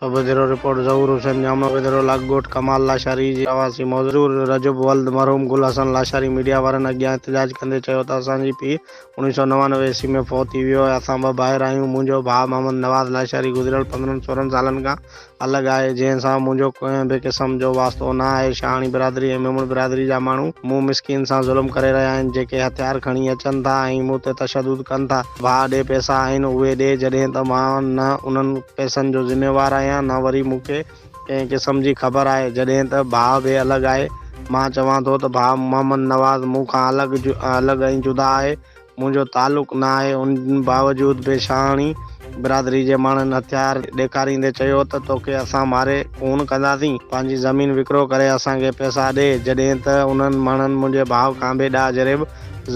Bureau report, Zahoor Hussain Jamro bureau, لاک ڳوٺ ڪمال لاشاري جي رهواسي مزور رجب ولد مرحوم گل حسن لاشاري ميڊيا وارن اڳيان احتجاج ڪندي چيو ته اسان جي پيء اوڻيهه سؤ نوانوي عيسوي ۾ فوت ٿي ويو آهي، اسان ٻه ڀائر آهيون، منهنجو ڀاء محمد نواز لاشاري گذريل پندرهن سورهن سالن کان الڳ آهي، جنهن سان منهنجو ڪنهن به قسم جو واسطو نه آهي، شاهاڻي برادري ۽ ميمڻ برادري جا ماڻهو مون مسڪين سان ظلم ڪري رهيا آهن، جيڪي هٿيار کڻي اچن ٿا ۽ مون تي تشدد ڪن ٿا. ڀاء ڏي پئسا آهن اهي ڏي جڏهن ته مان نه انهن پئسن جو ذميوار آهيان نه وري مون کي ڪنهن قسم جي خبر آهي جڏهن ته ڀاء به الڳ آهي مان چوان ٿو ته ڀاء محمد نواز مون کان الڳ الڳ ۽ جدا آهي منهنجو تعلق نه آهي ان باوجود به شاهاڻي برادري جي ماڻهن هٿيار ڏيکاريندي چيو ته توکي اسان ماري خون ڪنداسين پنهنجي زمين وڪرو ڪري اسان کي پئسا ڏي جڏهن ته انهن ماڻهن منهنجي ڀاء کان بي ڏاهه جريب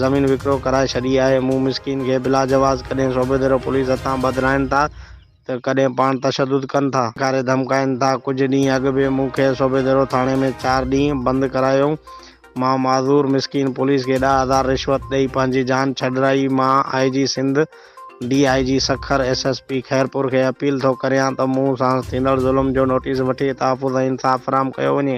زمين وڪرو ڪرائي ڇڏي آهي، مون مسڪين کي بلا جواز ڪڏهن صوبي ديرو پوليس هٿان ٻڌرائين ٿا ته ڪڏهن پاڻ تشدد ڪن ٿا. ڌڪاري ڌمڪائين ٿا، ڪجهه ڏينهن اڳ به مون کي صوبي ديرو ٿاڻي ۾ چار ڏينهن بند ڪرايائون، مان معذور مسڪين پوليس کي ڏهه هزار رشوت ڏئي پنهنجي جان ڇڏرائي، مان I G Sindh, D I G Sukkur, S S P Khairpur کي اپيل ٿو ڪريان ته مون سان ٿيندڙ ظلم جو نوٽيس وٺي تحفظ ۽ انصاف فراهم ڪيو وڃي.